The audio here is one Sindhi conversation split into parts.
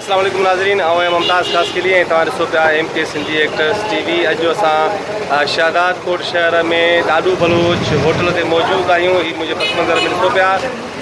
السلام عليڪم ناظرين آئون آهيان ممتاز خاصخيلي ۽ توهان ڏسو پيا M K Sindhi actress T V اڄ اسان شهداد ڪوٽ شهر ۾ ڏاڏو بلوچ هوٽل تي موجود آهيون هي منهنجي پس منظر ۾ ڏسو پيا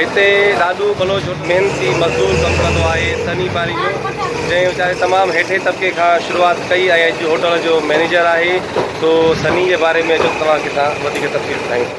هتي ڏاڏو بلوچ محنتي مزدور ڪم ڪندو آهي سني پاري جو جنهن ويچاري تمام هيٺي طبقي کان شروعات ڪئي ۽ اڄ هوٽل جو مئنيجر آهي سو سني جي باري ۾ اچو توهان کي اسان وڌيڪ تفصيل ٻڌايون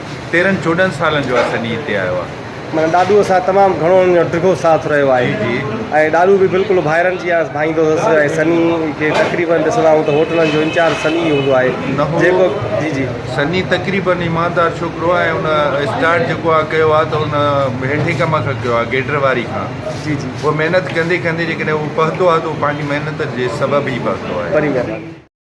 تيرھن چوڏھن سالن جو عرصن ھي ھتي آيو آ. معنيٰ ڏاڏوء سان تمام گھڻو ھن جو ڊگھو ساٿ رھيو آھي ۽ ڏاڏو به بلڪل ڀائرن جيان اس ڀائيندو ھوس ۽ سني کي تقريبن ڏسندا آھيون ته ھوٽلن جو انچارج سني ئي ھوندو آھي جيڪو جي جي. سني تقريبن ايماندار ڇوڪرو آ ۽ ھن اسٽارٽ جيڪو آ ڪيو آ ته ھن ھيٺين ڪم کان ڪيو آ گيڊر واري کان جي جي. پوء محنت ڪندي ڪندي جيڪڏھن ھو پھتو آ ته اھو پنھنجي محنت جي سبب ئي پھتو آھي. وڏي مھرباني.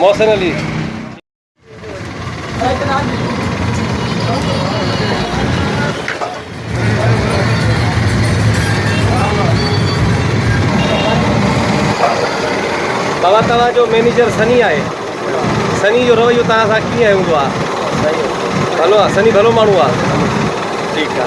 محسن علي. بابا توهان جو مينيجر سني آهي سني جو رويو توهان سان ڪيئن هوندو آ ڀلو آ سني ڀلو ماڻهو آ ٺيڪ آ.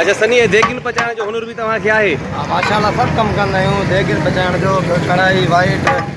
اچھا سني هي ديگين پچائڻ جو هنر به توهان کي آهي؟ ها ماشاء الله سڀ ڪم ڪندا آهيون ديگين پچائڻ جو ڪڙهائي وائٽ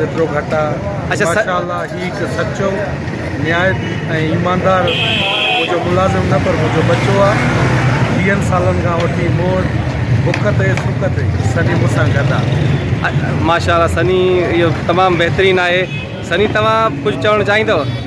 ايترو گهٽ آ ماشاء الله هي هڪ سچو نهايت ۽ ايماندار منهنجو ملازم نه پر منهنجو ٻچو آ ويهن سالن کان وٺي مون وٽ بک تي سک تي سني مون سان گڏ آ. ماشاء الله سني اهو تمام بهترين آهي سني توهان ڪجهه چوڻ چاهيندو.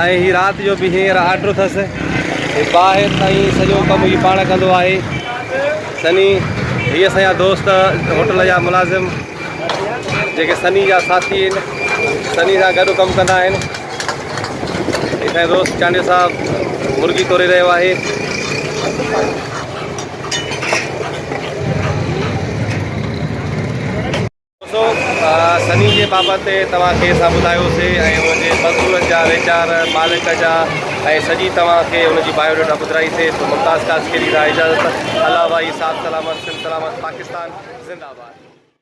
۽ هي رات جو به هينئر آرڊر اٿس هي ٻاهر تائين سڄو ڪم هي پاڻ ڪندو آهي سني هي اسان جا دوست هوٽل جا ملازم جيڪي سني جا ساٿي آهن سني سان گڏ ڪم ڪندا آهن اسان دوست چانڊيو صاحب مرغي توري رهيو آهي سو سني جي بابت توهان کي اسان ٻڌايوسي ۽ ان جي مزدورن جا ويچار، مالڪ جا ۽ سڄي توهان کي ان جي بايو ڊيٽا ٻڌرائيسي سو ممتاز قاسقلي ڏانهن اجازت الله ڀائي صاحب سلامت سنڌ سلامت پاڪستان زنده آباد.